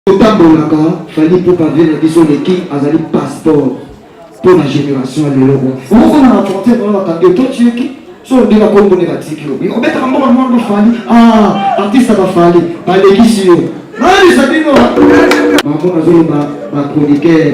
totambolaka fali ipupa vie na biso le king azali passeport mpo na génération ya lelo oyo okokoma na frontière wana bakangi yo to tieki so ondela kombo nde batiki yo obetaka mbongo na mwana bafali ah, artiste bafali balekisi yo nalisa bino bango nazoloba bachroniqueur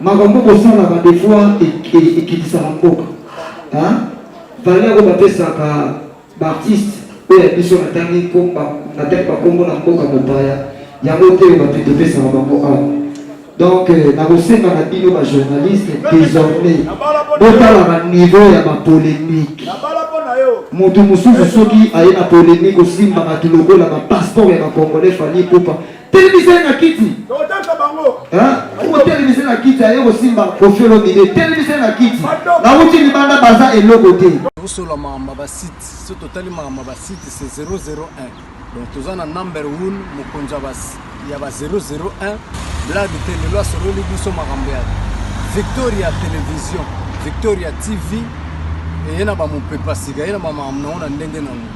Makambo bosalaka des fois ekitisaka mboka hein valeur oyo bapesaka baartiste oyo ya biso natangi komba natangi bakombo na mboka mopaya yango te bato topesaka bango awa donc euh, nakosenga na bino bajournaliste désormais botalaka niveau ya bapolémique moto mosusu soki aye na polémique osimbaka ti lokola bapasseport ya bacongolais fali pupa Telemisa ye na kiti. Tokotelisa bango. Okotelemisa ye na kiti aye kosimba Koffi Olomide. Telemisa ye na kiti. Bawuti libanda baza eloko te. Tokosola makambo ya basite. Soki totali makambo ya basite se 001. Donc toza na number 1 mokonzi ya ba 001. Blade te lelo asololi biso makambo ya Victoria Television, Victoria TV eye na bamopepa sika ye na bamakambo nango na ndenge nango.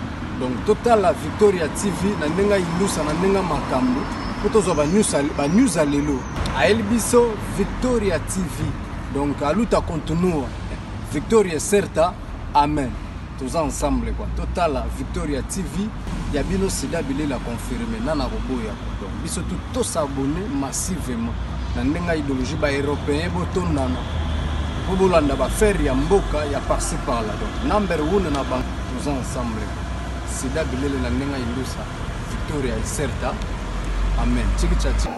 Donc totala Victoria TV na ndenga indusa na ndenga makambo po tozwa ba news ba news ya lelo. Ayeli biso Victoria TV. Donc aluta continua. Victoria certa. Amen. Toza ensemble quoi. Totala Victoria TV ya bino sida bilela confirme nana koboya quoi. Donc biso tout to s'abonner massivement na ndenga idéologie ba européens botondana po bolanda ba faire ya mboka ya par-ci par-là. Donc number 1 na bango Toza ensemble sida bilele na ndenga indusa victoria iserta amen tiki chachi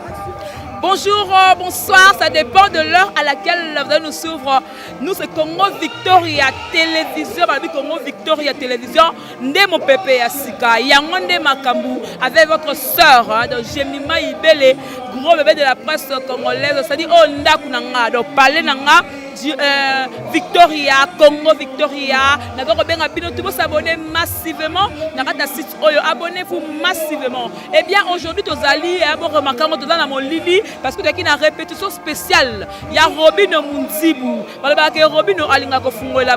Bonjour, euh, bonsoir, ça dépend de l'heure à laquelle vous allez nous suivre. Nous, c'est Congo Victoria Télévision, Babi Congo Victoria Télévision, Nde mon pépé à Sika, Yangonde Makambu, avec votre sœur, hein, donc Jemima Ibele, gros bébé de la presse congolaise, c'est-à-dire, oh, Ndakunanga, donc, palais Nanga, Euh, victoria congo victoria naza kobenga bino tout bosabone massivement na kati ya site oyo abonnez vous massivement et eh bien aujourd'hui tozali eh, boremaka yango toza na molili parce que tozalaki na répétition spéciale ya robino munzibu balobaka ke robino alinga kofungolela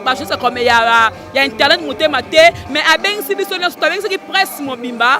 bajose comme ya internet motema te mais abengisi biso nyonso toabengisaki presse mobimba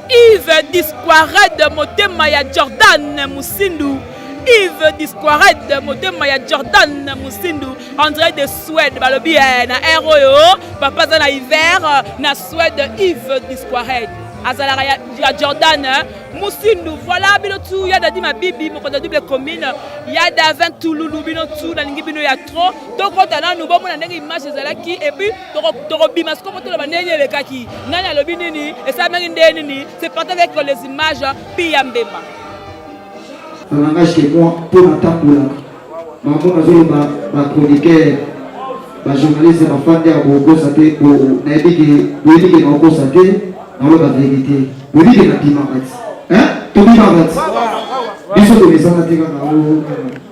Yves Disquared motema ya Jordan Musindu Yves Disquared motema ya Jordan Musindu André de Suède balobi eh, na air oyo papa aza na hiver na Suède Yves Disquared azalaka ya, ya Jordan eh. Musindu voilà bino tu ya dadi mabibi mokonzi ya double commune ya davin tululu bino tu nalingi bino ya trop tokota nanu bomona ndenge image ezalaki epuis tokobima sikoyo toloba ndenge elekaki nani alobi nini esalamaki ndenge nini se parti avec les images pi ya mbemba na langage ke moi mpo natambolaka bango nazoloba bachroniqueur bajournaliste bafandi ya kokosa te nayebi ke boyebi ke nakokosa te naloba verité boyebi ke nabimaka ti tobimaka ti biso tomesana te kaka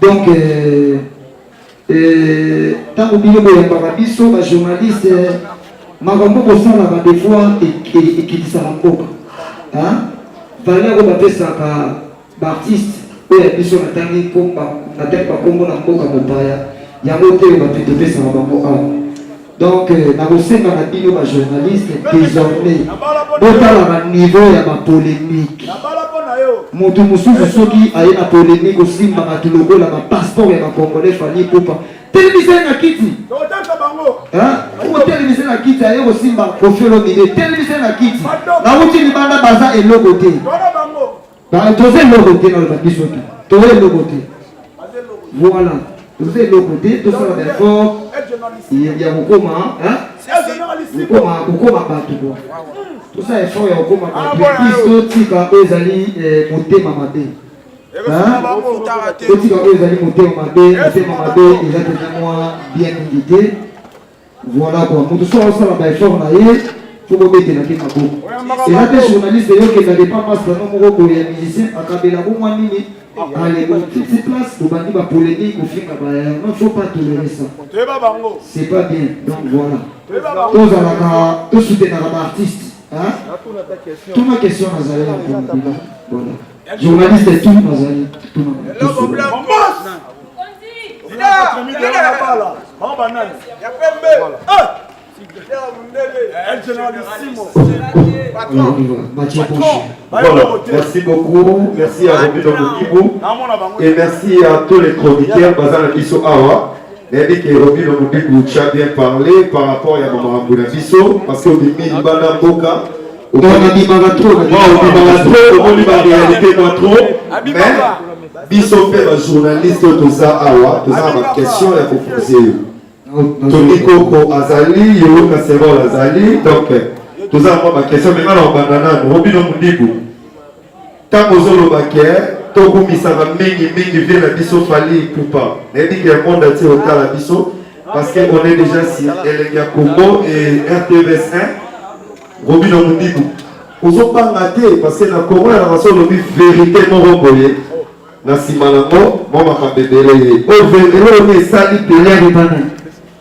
donc euh, euh, ntango bino boyambaka biso bajournaliste euh, makambo bosalaka des fois ekitisaka mboka valeur oyo bapesaka baartiste oyo ya biso natangi bakombo na mboka mopaya yango te bato topesaka bango awa Donc, euh, nakosenga na bino ba journaliste désormais botala ba niveau ya ba polémique moto mosusu soki aye na polémique osimba bato lokola ba passeport ya ba congolais fali pupa telemisa ye na kiti otelemisa na kiti aye kosimba kofiolomide telemisa ye na kiti nauti libanda baza eloko te Ba toza eloko te na biso te. Toza eloko te. Voilà. Toza eloko te, tosala ba effort ya kokoma, hein? Kokoma kokoma bato kwa. Tosa effort ya kokoma bato. Puis totika oyo ezali eh, motema mabe. Totika oyo ezali motema mabe, motema mabe eza mpenza mwa bien mingi te. Voilà quoi, mutu soit osala ba effort na ye faut kobetela mpe maboko eza te journaliste eyokenda depa masta no moko boye ya musicien akabela bomwa nini alelo titi place obandi bapolémique ofinga baya non faut pas tolérer ça c'est pas bien donc voilà tozalaka tosutenaka baartiste tuna question nazali na mpo na bino voilà Journaliste tout bazali tuna merci beaucoup, merci à Robino Mukibu et merci à tous les chroniqueurs basant la Bisso Awa. nayebi ke robino mobiku tya bien parle par rapport ya bamakambo na biso parce que obimi libanda mboka Omoni abimaka trop na Waouh, obimaka trop, omoni ba réalité mwa trop. Mais biso mpe ba journaliste oyo toza awa, toza na ba question ya ko poser yo. Tony Koko azali, Yoro Casserole azali, donc toza na mwa ba question, mais nga na obanda nanu, obino mundibu. ntango ozoloba ke tokumisaka mingi mingi vie na biso fali ipupa nayebi ke monde atie otala biso parce que on est déjà si elenge ya congo et rtvs 1 robino mundibu ozobanga te parce que na congo ya naso olobi verité moko boye na nsima nango mwa makambo ebele ye oyo verité oyo esali peleani bana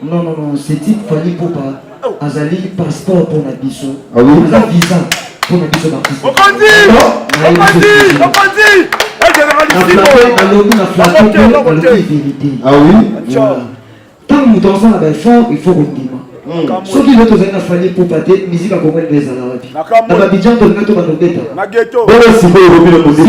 Non non non, c'est type Fally Poupa azali passeport pour na biso. Ah oui. Aza visa pour na biso ba. Okondi! Okondi! Okondi! Eh général ici. Na lobi na flatter pour na lobi vérité. Ah oui. Tant moto aza na ba effort, il faut kondima. Hmm. soki leo tozali na fali pupa te miziki akongoli mpe ezala wapi na babidjan tolinga to bandobeta bolo sikoyo lobi na moziki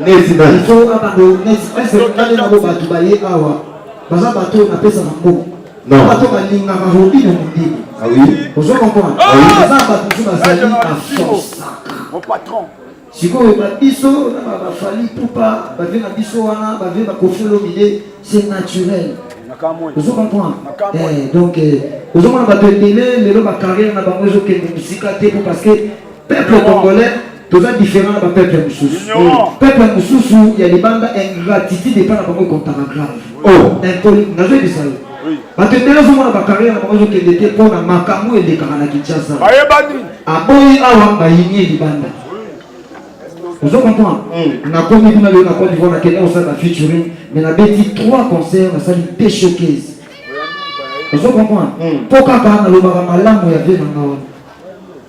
Nice nice. Faut na bando nice nice kale na bo batu baye awa. Baza bato na pesa na mbo. Non. Bato balinga ba hobi na mundini. Ah oui. Ozo comprendre? Ah oui. Baza bato tu bazali na force. Mon patron. sikoyo babiso na bafali pupa bave na biso wana bave bakofi olomide c'est naturel ozo comprendre eh, donc eh, ozomona bato ebele lelo bacarrière na bango ezokende mosika te po parce que Peuple congolais toza différent na bapeuple ya mosusu peuple ya mosusu ya libanda ingratitude epai na bango ekontaka grave oh. impoli nazoyebisa yo bato ebele azomona bakarriere na bango ezokende te mpo na makambo elekaka na kinshasa aboyi awa bayini libanda ozo comprendre hmm. nakomi kuna lelo na cote divoire nakende kosala na featuring mais nabeti trois concert nasali te showcase ozo comprendre mpo hmm. kaka nalobaka malamu ya vie na nga wana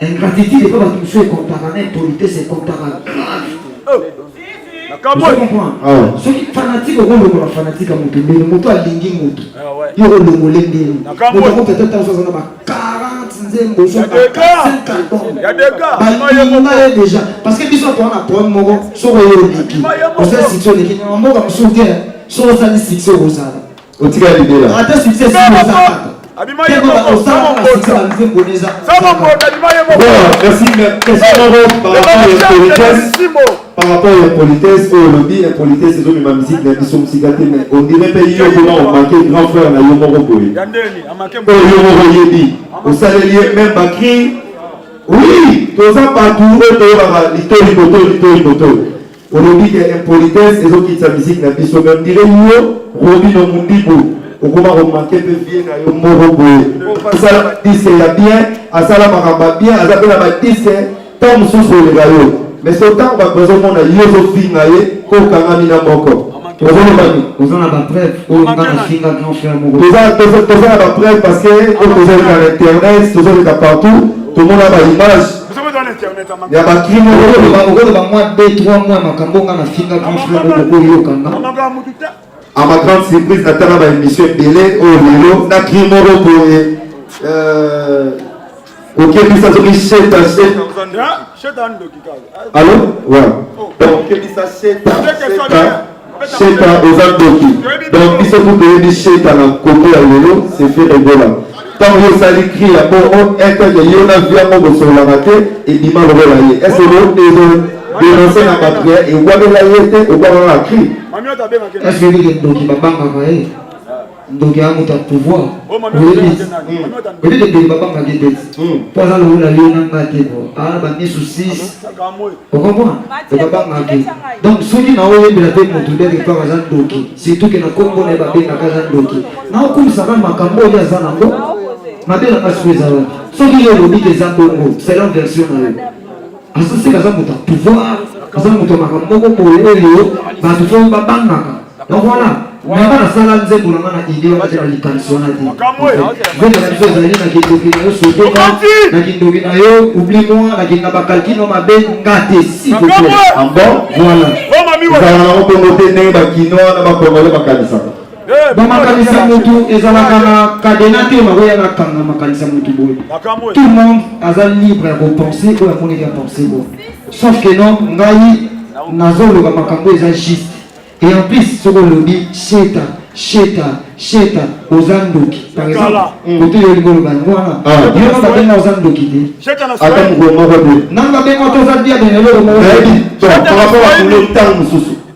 Ingratitude epa bato mosusu ekontaka na impolitesse ekontaka grave ah. soki fanatike okolongola fanatike ya moto ndenge moto alingi moto ah, yo olongole ndenge moto akoki ata ntango aza na ba 40 nzembo balinga ye déjà parce que biso toa na problème moko soki oyo oleki oza sitio oleki na mboka mosusu te soki ozali sitio okozala Otika libela. Ata succès si oza kaka. Abima ye moko sama mbota. Sama mbota abima ye moko. Bon, merci mais question moko par rapport ya politesse. Par rapport ya politesse oyo olobi ya politesse ezobima musique na biso mosika te mais on dirait mpe yo kuna omake grand frère na yo moko boye. Ya ndeni amake moko. Oyo yo moko oyebi. Osaleli ye même bakri. Oui, toza bato oyo toyebaka litoli boto litoli boto. Olobi ke impolitesse ezo kitisa musique na biso mais on dirait yo Robino Mundibu okoma ko manquer pe vie na yo moko boye. Asala ba disque ya bien, asala makambo ya bien, aza pe na ba disque tant mosusu oleka yo. Mais so tango ba besoin mona yo zo finga ye ko kangami na moko. Ozoloba nini? Oza na ba preuve oyo nga na finga grand frère moko. Toza toza toza na ba preuve parce que oyo tozo leka na internet, tozo leka partout, tomona ba images ya bakrimo okoloba okoloba mwa 2 3 mwa makambo nga nafinga grand frère moko oyoka nga a ma grande surprise natala ba émission ebele oyo oh, lelo na krimo moko boye okebisa soki sheta sheta allo wa okebisa sheta sheta Sheta oza ndoki donc biso tu toyebi sheta na koto ya lelo c'est fait ebola ntango yo osali cri ya po o eteke yo na vi yango bosololaka te ebima lokola ye est ce que ezo denonce na bato ya ekwamela ye te okwamaka cri est ce que ndoki babangaka ye ndoki ya moto ya pouvoir oyebisi oyebisi ebele babangaki te mpo aza lokola yo na ngai te bo aa bamisu 6 okomona ebabangaki donc soki na oyebela mpe moto ndenge kaka aza ndoki surtout ke na kombo na ye babengaka aza ndoki na okumisaka makambo oyo aza nango mabe na kasi oyo eza wapi soki yo olobi ke eza bongo selon version na yo Asisi aza moto ya pouvoir, aza moto ya makambo moko boye oyo bato to babangaka. Donc voilà, nanga nasala nzembo nanga na idée wana te na likanisi wana te. Nzembo na biso ezali na kindoki na yo sotoka, na kindoki na yo oublie moi, na kinga bakalkino mabe nga te si bokola. Ah bon? Voilà. Ezala nango bongo te ndenge bakinois na bakongole bakanisaka. bamakanisa motu ezalaka na kadena te makoya na kanga makanisa motu boye tout le monde aza libre ya kopense oyo amoneli ya pense boye sauf que non ngai nazoloba makambo eza juste et en plus soki olobi sheta sheta sheta oza ndoki par exemple kote yo olingi oloba yango wana yo nanga benga oza ndoki te ata mokolo moko te nanga benga to oza diabene eloko moko par rapport ya kulo ntango mosusu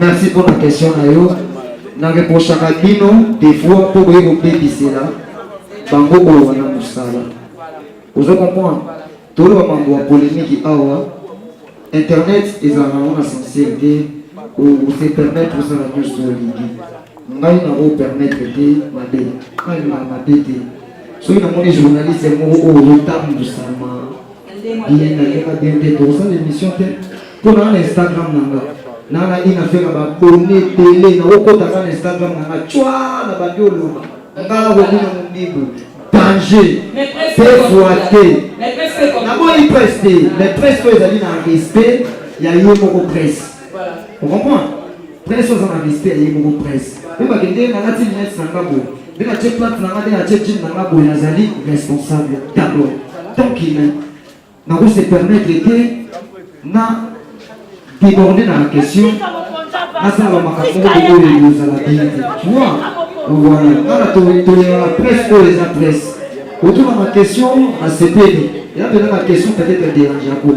Merci pour la question na yo. Na reprochaka bino des fois mpo boye kobebisela bango oyo wana mosala. Ozo comprendre? Toloba mambo ya polemiki awa. Internet ezalaka yango na sensible te. Ose permettre osala nyonso olingi. Ngai na o permettre te mabe. Ngai na mabe te. Soki namoni journaliste moko oyo otambwisama Bini na kema bien te tokosala émission te mpo naa na instagram na nga naa na ina fela babone ebele nakokota nga na instagram na nga cwa na bandi oloba nga nakobina mobibu danger pefwa te naboyi presse te mais presse oyo ezali na respect ya ye moko presse Vous comprenez Prince oza na respect ya ye moko prince. Mpe bakende nalati lunette na nga boye. Mpe natye plate na nga nde natye jean na nga boye nazali responsable d'abord. Tant qu'il est, nako se permettre te na déborder na la question nasala bamakambo moko oyo ekozala bien te. Tu vois Voilà. Nana toyeba presse oyo eza presse. Otuna ma question asepeli. Eza mpenza ma question peut-être dérange yango.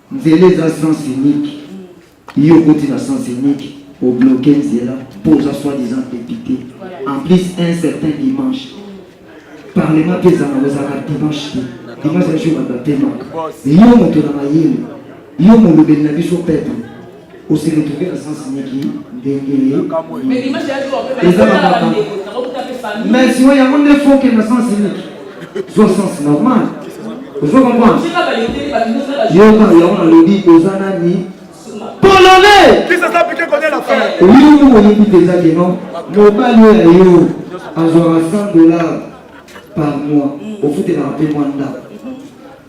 Nzela eza sens unique. Yo okoti na sens unique, obloke nzela mpo oza soit disant député. En plus un certain dimanche. Parlement mpe ezala ozalaka dimanche te. Dimanche ya jour ya batemaka. Yo moto na mayele, yo molobeli na biso peuple. Au se retrouver na sens niki ndenge ye. Eza na makambo. Mais siwa yango nde faut que na sens niki. Zwa sens normal. Ozo comprendre? Yoka yango nalobi oza nani? Polonais. Qui ça ça piqué connaît la fin. Oui, vous voyez qui déjà que non. Mobali oyo ya yo azwaka 100 dollars par mois. Ofutelaka mpe mwa ndako.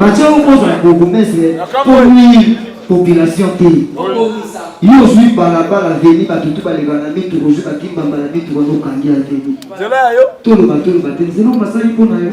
batie yo kozwa ya bourgmestre komini population te yo ozwi balabala veni bato tu baleka na mitu ozwi bakimbamba na mitu wana okangi ya veni toloba toloba te nzela omasali mpo na yo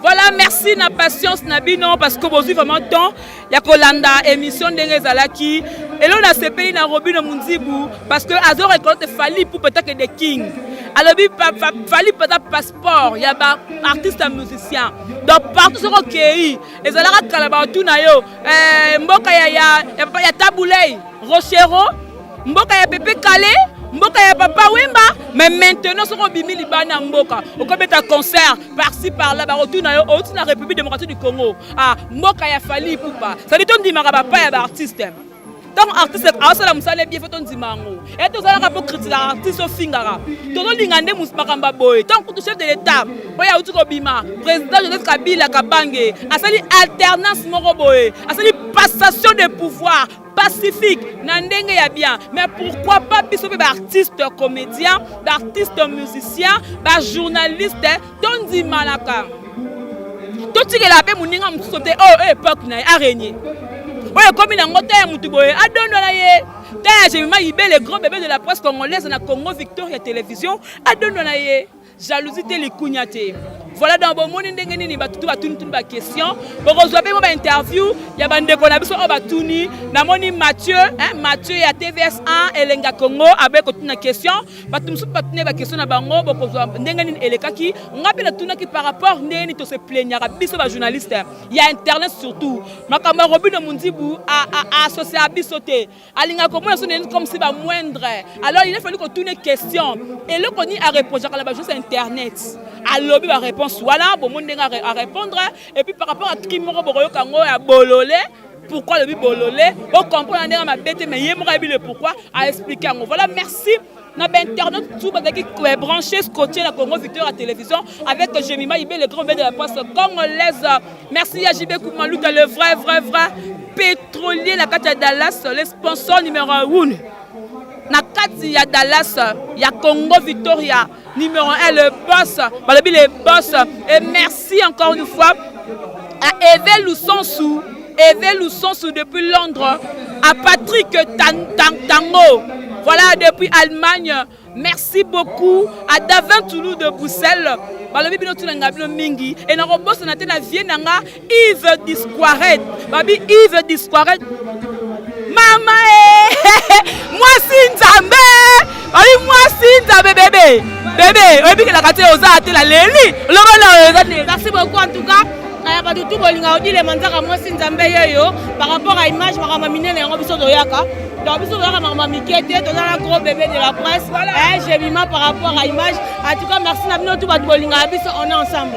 Voilà, merci na patience na bino parce que vous avez vraiment temps ya kolanda émission ndenge ezalaki elo nasepeli na robino munzibu parce que azo reconnaître fali pour peut-être que the king alobi fali pata passeport ya ba artiste ya musicien donc partout soki okei ezalaka kala bato na yo eh, mboka ya, ya, ya, ya tabulei rochero mboka ya pepe kale mboka ya papa wemba mais maintenant soki obimi libanda mboka okobeta concert parci parla bakotuna yo outi na république démocratique du congo ah mboka ya fali ipupa sadi tondimaka bapa ya baartiste ntango artiste aosala mosala ebie fo tondima yango e tozalaka mpo kritika artiste ofingaka tozolinga nde makambo ya boye ntango kutu chef de l'état oyo auti kobima président joseph kabila kabange asali alternance moko boye asali passation de pouvoir pacifique na ndenge ya bien mais pourquoi pas biso mpe baartiste comédien baartiste musicien bajournaliste tondimanaka totikela mpe moninga mosusu te oyo oh, epoque na ye arenie oyo ekomi nango te ya motu boye adondo na ye te ya jemima ibele grand bebe de la presse congolaise na congo victoria télévision adondo na ye jalousie te likunya te voilà donc bomoni ndenge nini bato to batunituni baquestion bokozwa mpe mo bainterview ya bandeko na biso oyo batuni namoni mathieu mathieu ya tvs 1 elenga congo abe kotuna question bato mosusu batuni baquestion na bango bokozwa ndenge nini elekaki ngai mpe natunaki par rapport ndenge nini tose plaignaka biso bajournaliste ya internet surtout makambo ya robino mondibu aassocia biso te alinga komona so neni comme si ba moindre alors il a fallu kotuna question eloko nini areprochaka na bajournaliste ya internet alobi baréponse wana bomoni ndenge arépondre et puis par rapport à tri moko bokoyoka yango ya bolole pourquoi alobi bolole okomprendre ndenge mabe te mais ye moko ayebi le pourquoi aexplike yango voilà merci na bainternaute tout bazalaki euh, branché scotché na congo victoire ya télévision avec jemima ibe le grand be de la presse congolaise merci ya jibe kumaluta le vrai vrai vrai pétrolier na kati ya dallas le sponsor numéro 1 na kati ya dallas ya congo victoria numéro 1 le boss balobi le boss et merci encore une fois à eve lusansu Eve Lusansu depuis Londres, à Patrick Tango, voilà depuis Allemagne. Merci beaucoup à Davin Toulou de Bruxelles. balobi bino tunanga bino mingi e nakobosana te na vie na nga ive disquaret babi ive disquaret mama e mwasi nzambe babi mwasi nzambe bebe bebe oyebikelaka te oza ate na leli olobana oza te merci beaucoup en tout cas kaya bato tu bolinga odile manzaka mwasi nzambe yeyo par rapport à image makambo minene yango biso toyaka donc biso toyaka makambo mike te toza na gros bébé de la presse voilà. eh, jebima par rapport à image en tout cas merci na bino tu bato bolingaka biso on est ensemble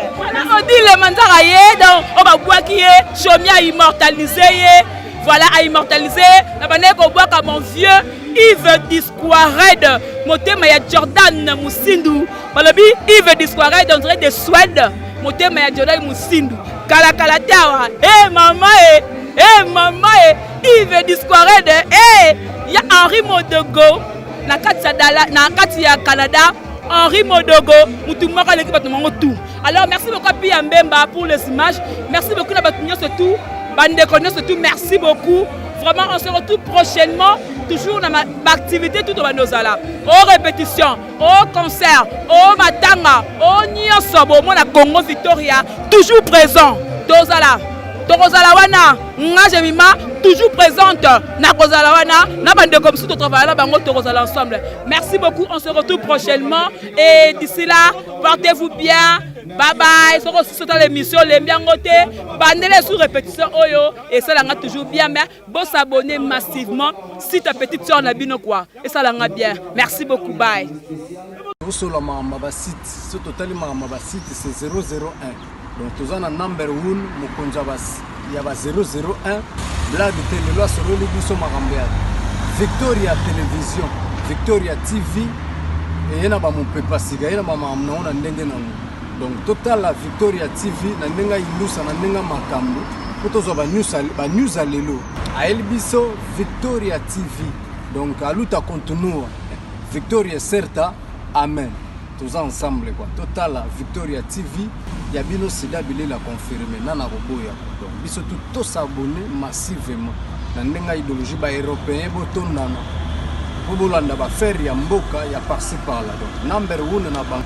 odile manzaka ye donc oyo babwaki ye chomi a immortalise ye voilà a immortalise ye na bandaki kobwaka mon vieux Yves Disquared motema ya Jordan Musindu balobi ive disquaride on dirait de swede motema ya jodai mosindu kalakala te awa e hey, mama e eh, e eh, hey, mama e eh, ive disquaride e hey, ya henri modogo na kati ya dala na kati ya canada henri modogo motu moko aleki bato mango tout alors merci beaucoup api ya mbemba pour les images merci beaucoup na bato nyonso tout bandeko nyonso tout merci beaucoup vraiment on se retrouve prochainement toujours na baactivité tout obanda ozala o répétition o concert o matanga o nyonso bomona congo victoria toujours présent tozala tokozala wana nga jemima toujours présente nakozala wana na bandeko mosusu totravaille na bango tokozala ensemble merci beaucoup on se retrouve prochainement et d'ici là portez vous bien babaye soki osusu otala émission olembi yango te bandela esu répétition oyo esalanga toujours bien mais Bo s'abonner massivement si ta petite soeur na bino quoi. Et ça langa bien. Merci beaucoup. Bye. Bosolo makambo ba site. Ce total makambo ba site c'est 001. Donc toza na number 1 mokonzi ya ba ya ba 001. Blague te lelo asololi biso makambo ya Victoria Television, Victoria TV et na ba mopepa siga, na ba makambo na ndenge na ngo. Donc totala Victoria TV na ndenge ayilusa na ndenge makambo mpo tozwa banews ya lelo. Ayeli biso Victoria TV donc aluta kontinua Victoria certa amen toza ensemble kwa totala Victoria TV ya bino sida bilela confirme nana koboya donc biso tu tosabone massivement na ndenge ya idéologie ba européen botondana mpo bolanda bafere ya mboka ya parci parla donc number one na bango